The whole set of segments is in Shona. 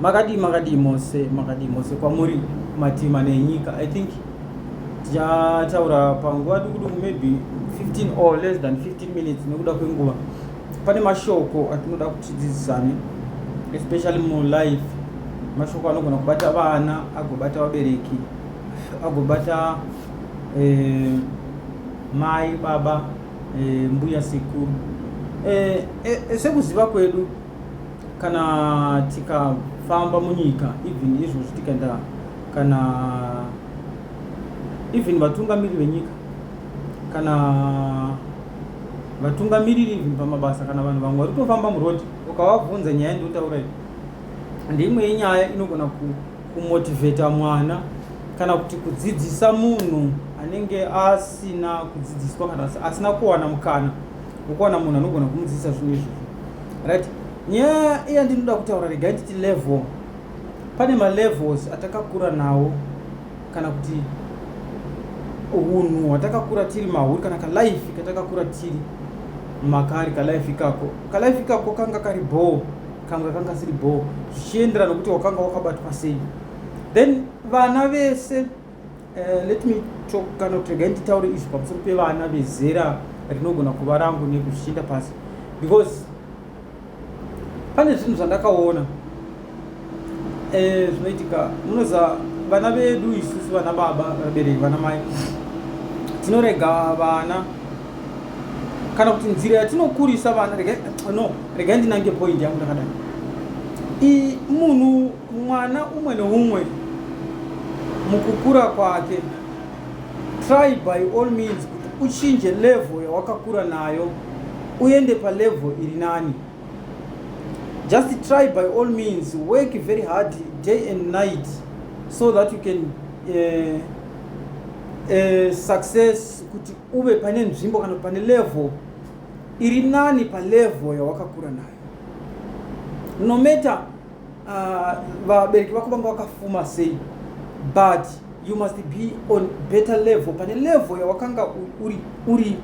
makadii makadii mose makadii mose kwamuri matima nenyika i think tichataura panguva dukuduku maybe 15 or less than 15 minutes nekuda kwenguva pane mashoko atinoda kutidzidzisane especially mulife mashoko anogona kubata vana agobata vabereki agobata eh, mai baba eh, mbuya sekuru eh, eh, sekuziva kwedu Kana tikafamba munyika even izvozvi tikaenda kana even vatungamiriri venyika kana vatungamiriri even pamabasa kana vanhu vamwe vari kutofamba murodi ukavabvunza nyaya ndiotaura iyi ndimwe yenyaya inogona kumotivheta mwana kana kuti kudzidzisa munhu anenge asina kudzidziswa kana asina kuwana mukana wokuwana munhu anogona kumudzidzisa zvinhu izvozvo right nyaya iya ndinoda kutaura regai titi level pane malevels atakakura nawo kana kuti unhu hwatakakura tiri mahuri kana kalife katakakura tiri makari kalife ikako kalife ikako kanga kari bhoo kamwe kanga kasiri bhoo zvichienderana nokuti wakanga wakabatwa sei then vana vese Uh, let me talk kana kuti regai nditaure izvi pamusoro pevana vezera rinogona kuva rangu neku zvichienda pasi because pane zvinhu zvandakaona eh, zvinoitika munoziva vana vedu isusu vana baba vabereki vana mai tinorega vana kana kuti nzira yatinokurisa vana no regai ndinange point yangu ndakadai munhu Mwana umwe neumwe mukukura kwake try by all means kuti uchinje level yawakakura nayo uende palevel iri nani just try by all means work very hard day and night so that you can uh, uh, success kuti uve pane nzvimbo kana pane level iri nani palevel yawakakura nayo no matter Ah, vabereki vako vanga vakafuma sei but you must be on better level pane level yawakanga uri uri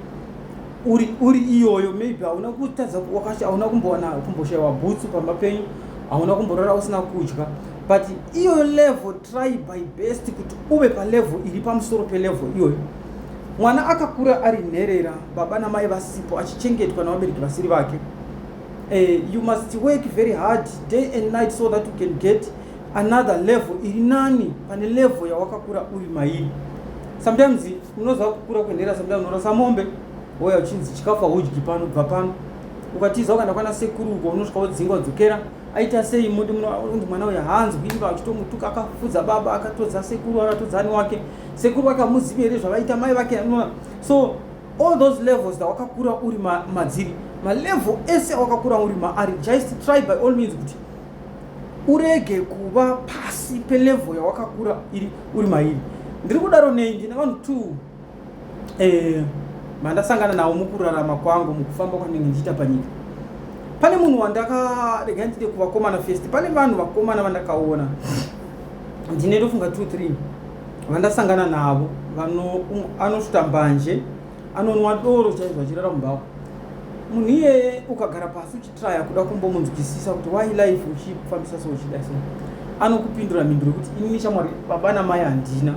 uri uri iyoyo maybe hauna kutadza wakacha hauna kumbowana kumboshayiwa bhutsu pamba penyu hauna kumborara usina kudya but iyoyo level try by best kuti uve palevel iri pamusoro pelevel iyoyo mwana akakura ari nherera baba namai vasipo achichengetwa navabereki vasiri vake Uh, you must work very hard day and night so that you can get another level iri nani pane level yawakakura uri mairi sometimes unoziva kukura kwenhera sometimes unorasa mombe oya uchinzi chikafu haudyi pano bva pano ukatiza ukaenda kwana sekuru uko unosvika wodzinga wodzokera aita sei moti munonzi mwana uyo haanzwi iva achitomutuka akafudza baba akatodza sekuru akatodza ani wake sekuru vake amuzivi here zvavaita mai vake anona so All those levels that wakakura uri ma, madziri malevel ese wakakura uri maari just try by all means kuti urege kuva pasi pelevel yawakakura iri uri mairi ndiri kudaro nei ndine vanhu t eh, mandasangana nawo mukurarama kwangu mukufamba kwandinge ndichiita panyika pane munhu wandakaregai ndide kuvakomana fest pane vanhu vakomana vandakaona ndine ndofunga t three vandasangana navo vano um, anosuta mbanje anonwa doro chaizvo achirara mumbawa munhu iyeye ukagara pasi uchitraya kuda kumbomunzwisisa kuti why life uchifambisa so uchida so anokupindura mhinduro yekuti inini shamwari baba namai handina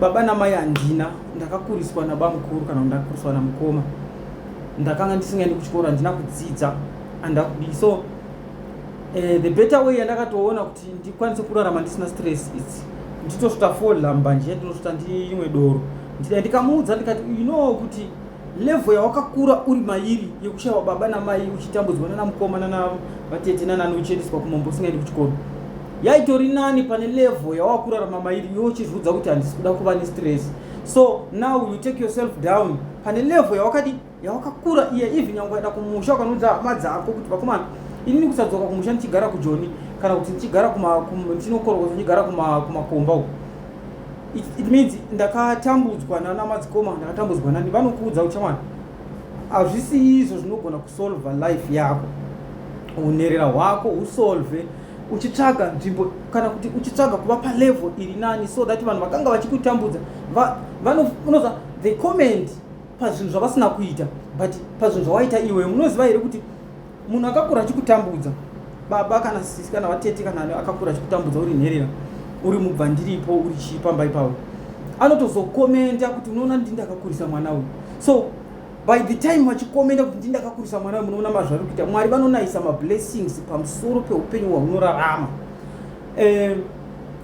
baba namai handina ndakakuriswa nabamukuru kana ndakuriswa namukoma ndakanga ndisingaendi kuchikoro handina kudzidza andakudii so uh, the better way yandakatoona kuti kuti ndikwanise kurarama ndisina stress idzi nditosvota fola mbanje ndinosvota ndiimwe doro ndidai ndikamuudza ndikati you know kuti level yawakakura uri mairi yekushaiwa baba namai uchitambudzwa nana mukoma nana vatete nanani uchiendeswa kumombo usingaendi kuchikoro yaitori nani pane level yawakurarama mairi yo uchizviudza kuti handisi kuda kuva nestress so now you take yourself down pane level yawakadi yawakakura iye even nyangwe ukaenda kumusha ukanudza hama dzako kuti vakomana inini kusadzoka kumusha ndichigara kujoni kana kuti ndichigara ndinokorokwa ndichigara kumakomba uku it means ndakatambudzwa nana madzikoma ndakatambudzwa nani vanokuudza kuti chamwana hazvisi izvo zvinogona kusolva life yako unherera hwako usolve uchitsvaga nzvimbo kana kuti uchitsvaga kuva palevel iri nani so that vanhu vakanga vachikutambudza vanoza the comment pazvinhu zvavasina kuita but pazvinhu zvawaita iwe munoziva here kuti munhu akakura achikutambudza baba kana sisi kana vatete kana akakura achikutambudza uri nherera uri mubvandiripo uri chii pamba ipapo anotozokomenta kuti unoona ndi ndakakurisa mwana uyu so by the time vachikomenta kuti ndi ndakakurisa mwana uyu munoona mazvari kuita mwari vanonayisa mablessings pamusoro peupenyu hwaunorarama eh,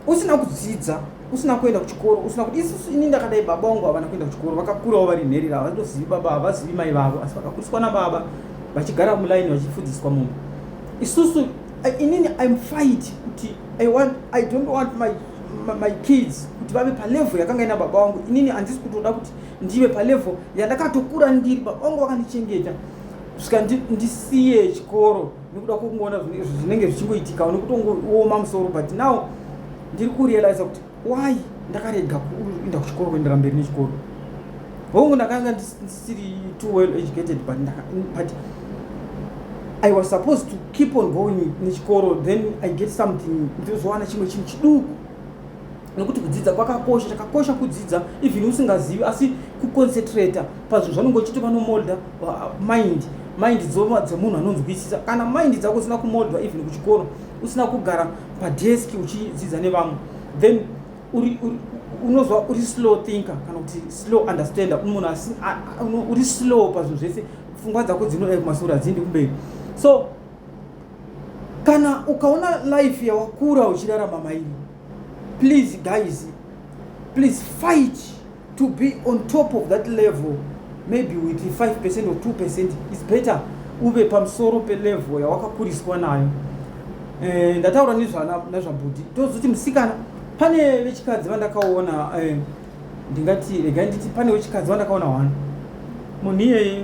usina kudzidza usina kuenda kuchikoro usina kuti isusu ini ndakadai baba vangu havana kuenda kuchikoro vakakurawo vari nherera havatozivi baba havazivi mai vavo asi vakakuriswa nababa vachigara mulaini vachifudziswa mumba isusu eh, inini im fight kuti i want i don't want my, my, my kids kuti vave palevel yakanga ina baba vangu inini handisi kutoda kuti ndive palevel yandakatokura ndiri baba vangu vakandichengeta svika ndisiye chikoro nekuda kwekungoona zvinenge zvichingoitika nekutongooma musoro but now ndiri kurealiza kuti why ndakarega kuenda kuchikoro kuendera mberi nechikoro hongu ndakanga ndisiri too well educated but, but i was supposed to keep on going nechikoro then i get something ndozowana chimwe chinhu chiduku nekuti kudzidza kwakakosha chakakosha kudzidza even usingazivi asi kuconcentrata pazvinhu zvanonge uchiti vanomolda uh, mind mind dzemunhu anonzwisisa kana mind dzako usina kumoldwa even kuchikoro usina kugara padesk uchidzidza nevamwe then unozwa uri slow thinker kana kuti slow understander munhu uri slow pazvinhu zvese pfungwa dzako dzinoda kumasoro hadziendi kumberi so kana ukaona life yawakuura uchirarama mairi Please guys, please fight to be on top of that level maybe with 5% or 2% is better uve pamusoro pelevel yawakakuriswa nayo eh, ndataura nezvabhudhi tozoti musikana pane vechikadzi vandakaona eh, ndingati regai nditi pane wechikadzi wandakaona wani munhu iyeye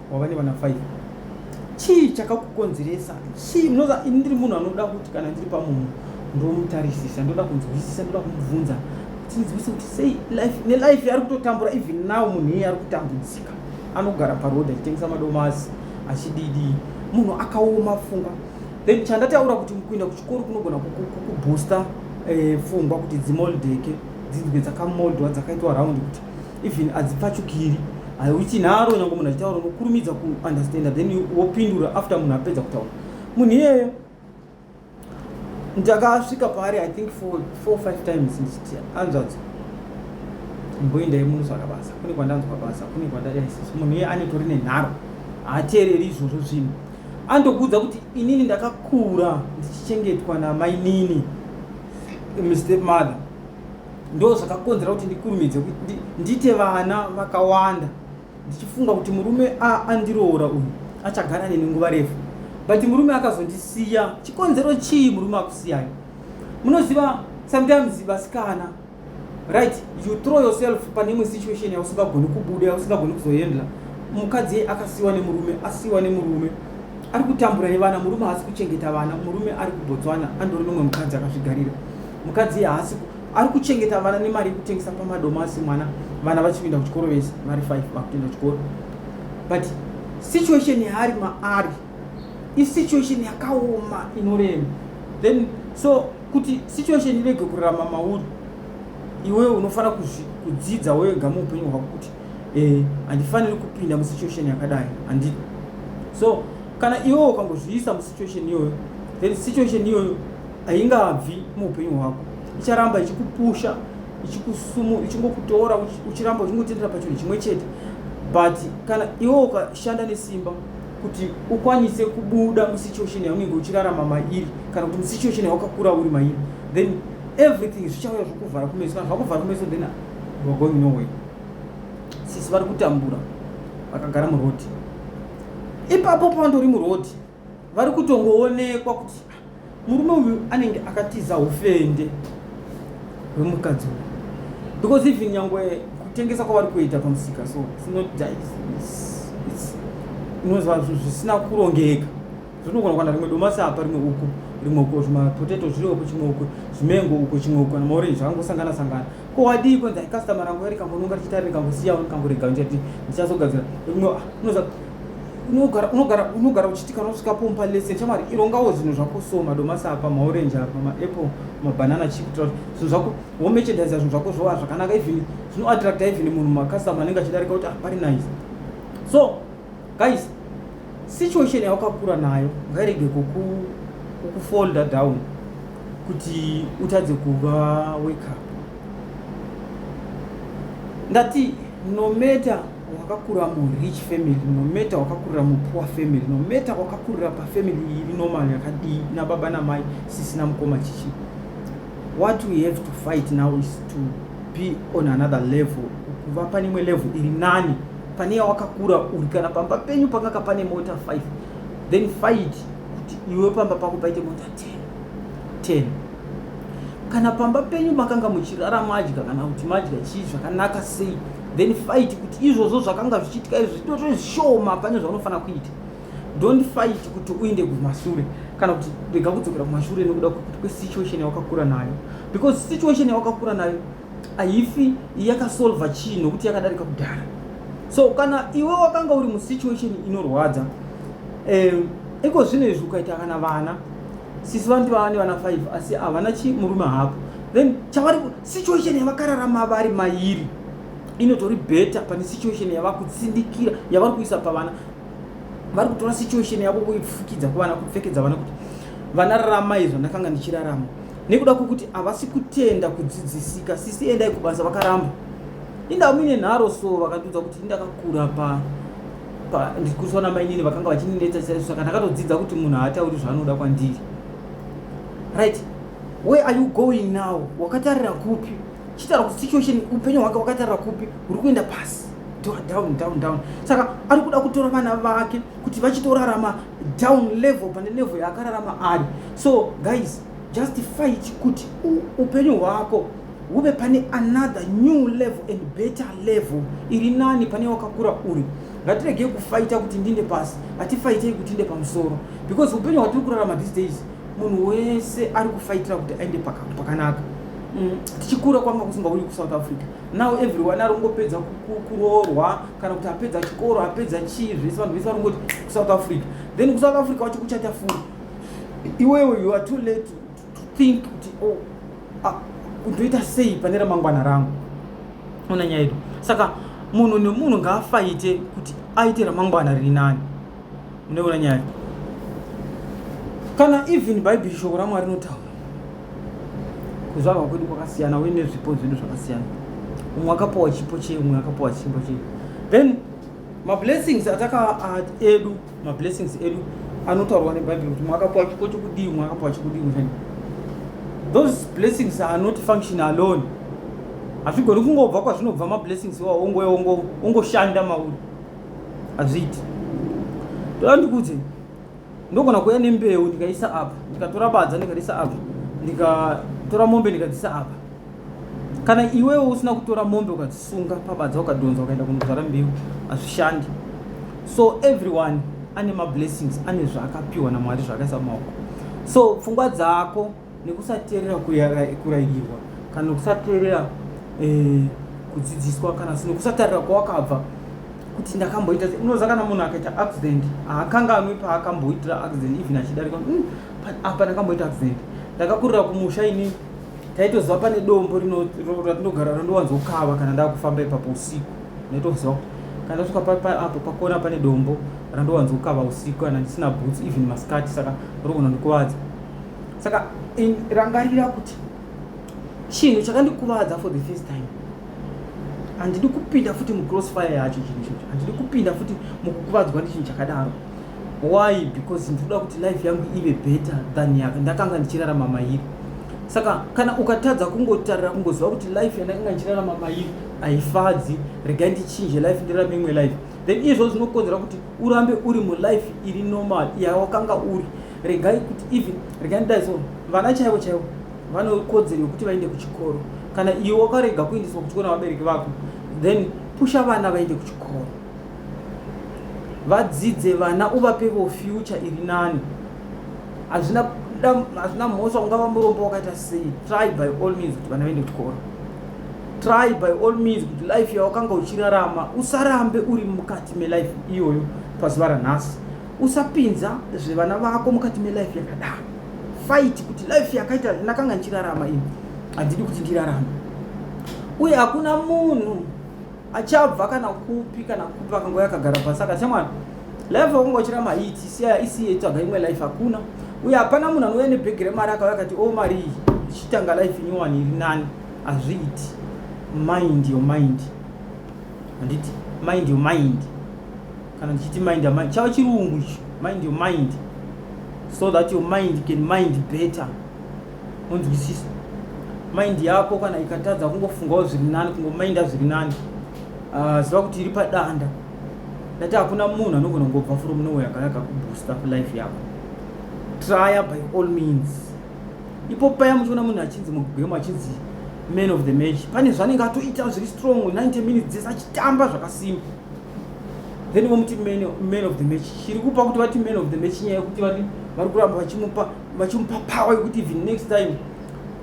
wava nevana 5 chii chakakukonzeresa chii munoza ini ndiri munhu anoda kuti kana ndiri pamunhu ndomutarisisa ndoda kunzwisisa ndoda kumubvunza tinzwise kuti sei life nelife yaari kutotambura even now munhu iye ari kutambudzika anogara paroad achitengesa madomasi achididi munhu akaoma funga then chandataura kuti kuenda kuchikoro kunogona kuboosta eh, fungwa kuti dzimoldeke dzinzwe dzakamoldwa dzakaitwa round kuti even adzipfachukiri hauchinaro nyange munhu achitaura unokurumidza kuunderstanda then wopindura after munhu apedza kutaura munhu iyeyo ndakasvika paari i think for four five times ndichiti anzvadzo mboendai munosvaka basa kune kwandanzwa basa kune kwandadaisis munhu iye anetori nenharo haateereri izvozvo zvinhu andokuudza kuti inini ndakakura ndichichengetwa namainini mistep mother ndo zvakakonzera kuti ndikurumidze kuti ndiite vana vakawanda ndichifunga kuti murume andiroora uyu achagara neni nguva refu but murume akazondisiya chikonzero chii murume akusiyai munoziva sometimes vasikana right you throw yourself pane imwe situation yausingagoni kubuda yausingagoni kuzoendla mukadzi akasiwa nemurume asiwa nemurume ari kutambura nevana murume haasi kuchengeta vana murume ari kubotswana andori nomwe mukadzi akazvigarira mukadzi haasi ari kuchengeta vana nemari yekutengesa pamadomasi mwana vana vachipinda kuchikoro vese vari five vakupinda kuchikoro but situation yaari maari isituation yakaoma inorema then so kuti situation irege kurarama mauri iwewe unofanira kudzidza wega muupenyu hwako kuti eh, handifaniri eh, kupinda musituation yakadai handi so kana iwewe ukangozviisa musituation iyoyo then situation iyoyo haingabvi muupenyu hwako icharamba ichikupusha ichikusumu ichingokutora uchiramba uchingotendera pachinhu chimwe chete but kana iwe ukashanda nesimba kuti ukwanise kubuda musituation yaunenge uchirarama mairi kana kuti musituation yawakakura uri mairi then everything zvichauya zvokuvhara kumeso kana zvakuvhara kumeso then youare going no way sisi vari kutambura vakagara murodi ipapo pandori murodi vari kutongoonekwa kuti murume uyu anenge akatiza ufende hwemukadzi uyu because even nyangwe kutengesa kwavari kuita pamusika so it's not unozva zvisina kurongeka zvinogona kwana rimwe domasi apa rimwe uku rimwe uko zvimapoteto zviri uko chimwe uko zvimengo uko chimwe uko kana maorenji angosangana sangana ko wadii kwenzi ai customer rangu iri kambononga richita riri kambosiya uri kamborega ndichati ndichazogadzira unoza unogara unogara unogara uchiti kana usvika pompa lesson chamwari irongawo zvinhu zvako so madomasi apa maorange apa maapple mabanana chip tro zvinhu zvako womechendaisa zvinhu zvako zvova zvakanaka even zvinoattracta even munhu macustomer anenge achidarika kuti ah pari nice so guys situation yawakakura nayo ngairege kuku kukufolda down kuti utadze kuva wake up ndati no matter wakakurira murich family no matter wakakurira mupoor family no matter wakakurira pafamily iri normal yakadii nababa namai sisi namukoma chichi what we have to fight now is to be on another level kuva pane imwe level iri nani pane yawakakura uri kana pamba penyu panga kapane mota 5 then fight kuti iwe pamba pako paite mota 10 10 kana pamba penyu makanga muchirara madya kana kuti madya chii zvakanaka sei then fight kuti izvozvo zvakanga zvichiitika izvo zvitoto zvishoma pane zvaunofanira kuita don't fight kuti uinde kumashure kana kuti rega kudzokera kumashure nekuda kwekuti kwesituation yawakakura nayo because situation yawakakura nayo haifi yakasolva chii nokuti yakadarika kudhara so kana iwe wakanga uri musituation inorwadza eh, iko zvino izvi ukaita kana vana sisi vanoti vava nevana five asi havana chi murume hako then chavari situation yavakararama vari mairi inotori better pane situation yavakutsindikira yavari kuisa pavana vari kutora situation yavo kuifukidza kuvana kupfekedza vana kuti vana raramai zvandakanga ndichirarama nekuda kwekuti havasi kutenda kudzidzisika sisi endai kubasa vakaramba inda muine nharo so vakandiudza kuti indakakura pa ndikuriswa namainini vakanga vachinenetsa chaiso saka ndakatodzidza kuti munhu haatauri zvaanoda kwandiri right where are you going now wakatarira kupi chitaura kuti situation upenyu hwake wakatarira kupi uri kuenda pasi down down down saka ari kuda kutora vana vake kuti vachitorarama down level pane level yaakararama ari so guys just fight kuti upenyu hwako huve pane another new level and better level iri nani pane wakakura uri ngatiregei kufaita kuti ndinde pasi hatifaitei kuti inde pamusoro because upenyu hwatiri kurarama these days munhu wese ari kufaitira kuti aende pakanaka mm, tichikura kwanga kusingauyi kusouth africa now everyone ari kungopedza kuroorwa kana kuti apedza chikoro apedza chii zvese vanhu vese vari kungoti kusouth africa then kusouth africa wacho kuchata furi iwewe you are too late to, to think kuti oh, ah, ndoita sei pane ramangwana rangu ona nyaya yedu saka munhu nemunhu ngaafaite kuti aite ramangwana riri nani unoona nyaya kana even bhaibheri shoko ramwari rinotaura kuzvarwa kwedu kwakasiyana uye nezvipo zvedu zvakasiyana umwe akapowa chipo chei umwe akapowa chipo chei then mablessings ataka edu mablessings edu anotaurwa nebhaibheri kuti mwakapuwa chiko chokudii mwakapuwa chokudii mushani those blessings are not function alone hazvigoni kungobva kwazvinobva mablessings iwawo ongoshanda mauri hazviiti toda ndikudze ndogona kuuya nembeu ndikaisa apa ndikatora badza ndikariisa apa ndikatora mombe ndikadzisa apa kana iwewo usina kutora mombe ukadzisunga pabadza ukadhonza ukaenda kunozvara mbeu hazvishandi so everyone ane mablessings ane zvaakapiwa namwari zvaakaisa mumaoko so pfungwa dzako nekusateerera kurayirwa kana kusateerera eh, kudzidziswa kana nekusatarira kwawakabva kuti ndakamboita unoziva kana munhu akaita accident haakanganwi paakamboitira accident even achidarika hmm, apa ndakamboita accident ndakakurira kumusha ini taitoziva pane dombo ratinogara rinondowanzokava kana ndakufamba ipapo usiku ndaitoziva kuti kana tasvika apo pakona pane dombo randowanzokava usiku kana ndisina boots even maskati saka rogona ndikuvadza saka rangarira kuti chinhu chakandikuvadza for the first time handidi kupinda futi mucrossfire yacho chinhu chocho handidi kupinda futi mukukuvadzwa nechinhu chakadaro why because ndikuda kuti life yangu ive better than yaka ndakanga ndichirarama mairi saka kana ukatadza kungotarira kungoziva kuti life yandakanga ndichirarama mairi haifadzi regai ndichinje life ndirarame imwe life then izvo zvinokonzera kuti urambe uri mulife iri normal yawakanga uri regai kuti even regai ndidai so vana chaivo chaivo vanokodzero yokuti vaende kuchikoro kana iwe wakarega kuendeswa kuchikoro navabereki vako then pusha vana vaende kuchikoro vadzidze vana uvapevo future iri nani hazvina hazvina mhosva ungava murombo wakaita sei try by all means kuti vana vaende kuchikoro try by all means kuti life yawakanga uchirarama usarambe uri mukati melife iyoyo pazuva ranhasi usapinza zvevana vako mukati melife yakadaro fight kuti life yakaita ndakanga ndichirarama ini handidi kuti ndirarama uye hakuna munhu achabva kana kupi kana kupi akangoya akagara pasi akati mwana life wakungochira mahiti siya isiye tsvaga imwe life hakuna uye hapana munhu anouya nebhegi remari akauya akati o oh, mari iyi ichitanga life nyowani iri nani hazviiti mind yo mind handiti mind yo mind kana ndichiti mind yo mind chava chirungu icho mind yo mind so that your mind can mind better monzwisisa mind yako kana ikatadza kungofungawo zviri nani kungomainda zviri nani ah, ziva kuti iri padanda ndati hakuna munhu anogona kungobva from nowhere akanaka kuboosta life yako trya by all means ipo paya muchiona munhu achinzi mugame achinzi man of the match pane zvanenge atoita zviri strong 90 minutes dzese achitamba zvakasimba then vomuti man of the match chiri kupa kuti vati man of the match nyaya yekuti vati vari kuramba vachimupa vachimupa power yekuti even next time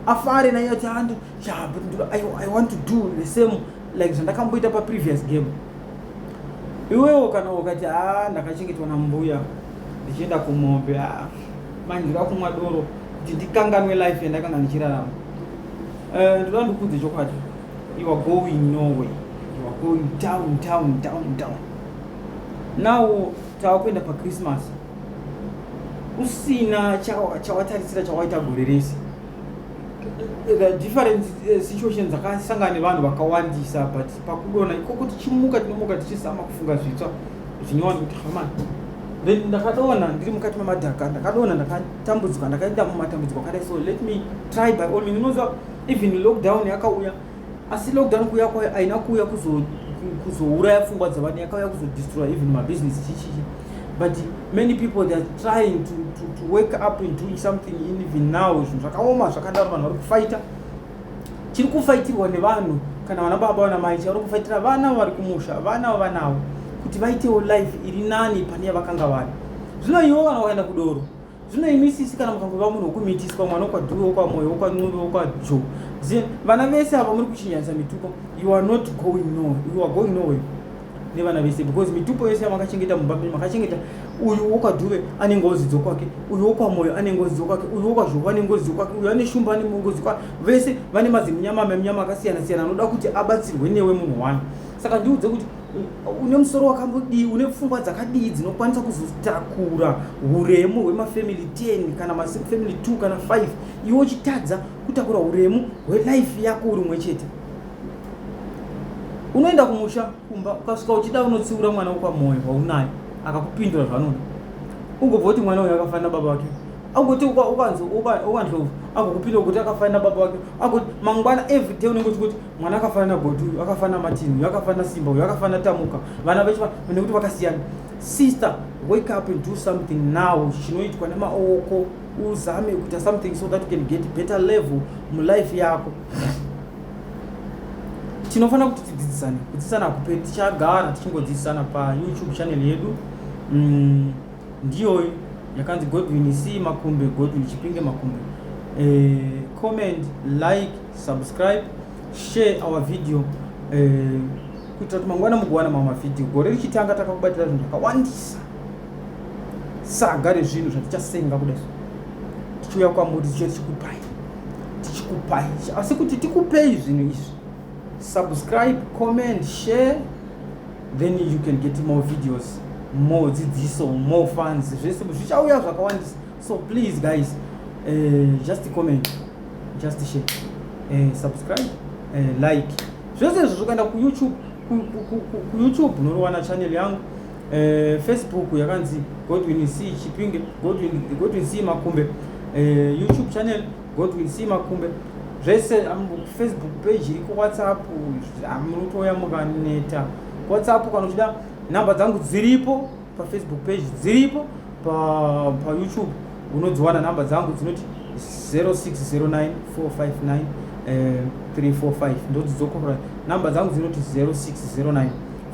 afare naiye ati ando ah, i want to do the same like zvandakamboita paprevious game iwewo kana ukati a ah, ndakachengetwa nambuya ndichienda kumombe a ah, manje ndida kumwa doro kuti ndikanganwe life yandakanga ndichirarama eh, ndoda ndikudze chokwadi you are going norway you are going down down down down now tava kuenda pachristmas usina chawatarisira chawaita gore rese the different eh, situations dzakasangana nevanhu vakawandisa but pakudona ikoko tichimuka tinomuka tichizama kufunga zvitsva zvinyowani kuti hamani then ndakadona ndiri mukati memadhaka ndakadona ndakatambudzika ndakaenda mumatambudziko akadai so let me try by all means unoziva even lockdown yakauya yeah. asi lockdown kuuya kwayo aina kuuya kuzouraya pfungwa dzevanhu yakauya kuzodestroy even mabusiness chichichi but many people theyare trying to, to, to wake up and doing something in even now zvinhu zvakaoma zvakadaro vanhu vari kufaita chiri kufaitirwa nevanhu kana vana baba vana mai chavari kufaitira vana vari kumusha vana vavanavo kuti vaitewo life iri nani pane yavakanga vari zvino ivo vana vakaenda kudoro zvino imi sisi kana mukangova munhu wokumitiswa mwana wokwadhuve wokwamoyo wokwan'uve wokwajo zin vana vese ava muri kuchinyanyisa mitupo you are not going no you are going noway nevana vese because mitupo yese yamakachengeta mumba menyu makachengeta uyu wokwadhuve ane ngozi dzokwake uyu wokwamoyo ane ngozi dzokwake uyu wokwazhovo ane ngozi dzokwake uyu ane shumba ane ngozi kwake vese vane mazimunyama memunyama akasiyana siyana anoda kuti abatsirwe newe munhu wani saka ndiudze kuti une musoro wakambodii une pfungwa dzakadii dzinokwanisa kuzotakura uremu hwemafamily 10 kana mafamily 2 kana 5 iwe uchitadza kutakura uremu hwelife yako uri umwe chete unoenda kumusha kumba ukasvika uchida unotsiura mwana wekwamoyo waunayo akakupindura zvanoda ugobva kuti mwana uyo akafanira baba vake agoti ukanzwa ukanzwa agokupindura kuti akafanira baba vake agoti mangwana everyday unenge uchikuti mwana akafanana goti uyu akafanana martin uyu akafanana simba uyu akafanana tamuka vana vechi nekuti vakasiyana sister wake up and do something now chinoitwa nemaoko uzame kuita something so that you can get better level mulife yako tinofanira kuti tidzidzisane kudzidzisana kupe tichagara tichingodzidzisana payoutube channel yedu mm, ndiyo yakanzi godwin c makumbe godwin chipinge makumbe eh, comment like subscribe share our video eh, kuitira kuti mangwana mugowana mamwe mavhidhiyo gore richitanga takakubatira zvinhu zvakawandisa saga rezvinhu zvatichasenga kudai tichiuya kwamuri tichiya tichikupai tichikupai asi kuti tikupei zvinhu izvi subscribe comment share then you can get more videos more dzidziso more fans zvese zvichauya zvakawandisa So please guys, uh, just comment, just share, uh, subscribe, uh, like. Zvese izvo zvokaenda ku YouTube, ku, ku, ku, ku, ku YouTube unorowana channel yangu. Eh, Facebook yakanzi Godwin C Chipinge, Godwin Godwin C Makumbe, eh, YouTube channel Godwin C Makumbe. Zvese um, Facebook page iriko, WhatsApp amunotoya um, mukaneta. WhatsApp kana uchida namba dzangu dziripo, pafacebook page dziripo payoutube pa unodziwana number dzangu dzinoti 0609459345 eh, ndodzidzokorora number dzangu dzinoti 0609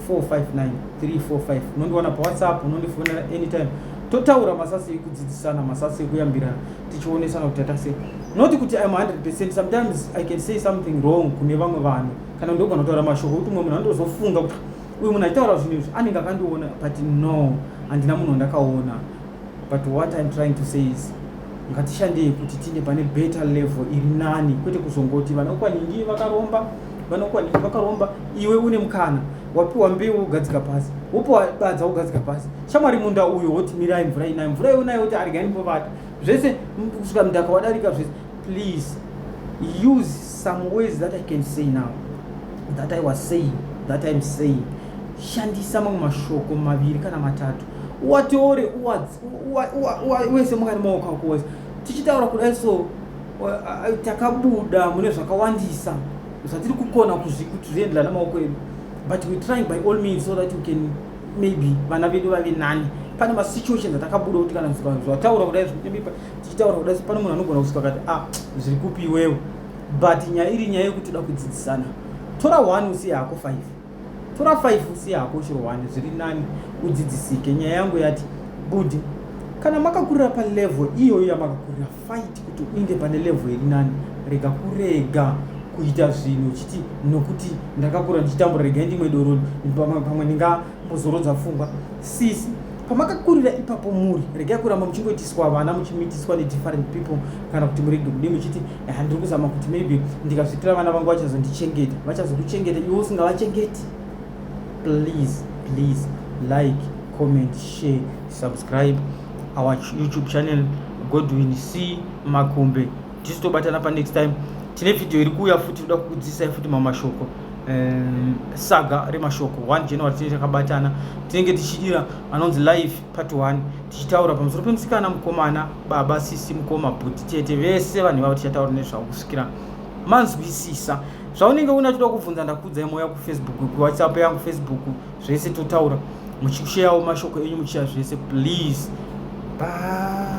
459345 unondiwana pawhatsapp unondifonera anytime totaura masasi ekudzidzisana masasi ekuyambirana tichionesana kuti tatase not kuti im 100 percent sometimes i can say something wrong kune vamwe vanhu kana ndogona kutaura mashoko ekuti umwe munhu andozofunga kuti uyu munhu achitaura zvinhu izvi anenge akandiona but no handina munhu wandakaona but what im trying to say is ngatishandei kuti tine pane better level iri nani kwete kuzongoti vana ukwaningi vakaromba vana ukwaningi vakaromba iwe une mukana wapiwa mbeu wogadzika pasi wopiwa badza wogadzika pasi shamwari munda uyo woti mirai mvura inayo mvura iyo nayo woti arigani povata zvese kusvika mdaka wadarika zvese please use Some ways that I can say now that I was saying that I'm saying shandisa mamwe mashoko maviri kana matatu uwatore uwese mukati maoko ako wese tichitaura kudai so takabuda mune zvakawandisa zvatiri kukona kuti zvienderana namaoko edu but we trying by all means so that we can maybe vana vedu vave nani pane masituations atakabuda kuti kana zvataura kudai tichitaura kuda pane munhu anogona kusvika kati a ah, zviri kupi iwewo but nyaya iri nyaya yekuti toda kudzidzisana tora one usiye hako five tora five usiye hako chero one zviri nani udzidzisike nyaya yangu yati budi kana makakurira palevel iyoyo yamakakurira fight kuti uinde pane level iri nani rega kurega kuita zvinhu uchiti nokuti ndakakura ndichitambura rega ndimwe doroni pamwe Kuzorodza pfungwa sisi pamakakurira ipapo muri regai kuramba muchingoitiswa vana muchimitiswa nedifferent people kana kuti murege kudii muchiti eh, ndiri kuzama kuti maybe ndikazvipira vana vangu vachazondichengeta vachazokuchengeta iwe usingavachengeti please please like comment share subscribe our youtube channel godwin c makumbe tisu tobatana pa next time tine video iri kuuya futi toda kukudzidzisai futi mamwe mashoko um, saga remashoko 1 january tinenge takabatana tinenge tichidira anonzi live part 1 tichitaura pamusoro pemusikana mukomana baba sisi mukoma bhuti tete vese vanhu ivavo tichataura nezvavo kusvikira manzwisisa zvaunenge una choda kubvunza ndakudza imo ya kufacebook kuwhatsapp yangu facebook zvese totaura muchikusheyawo mashoko enyu muchiya zvese please bye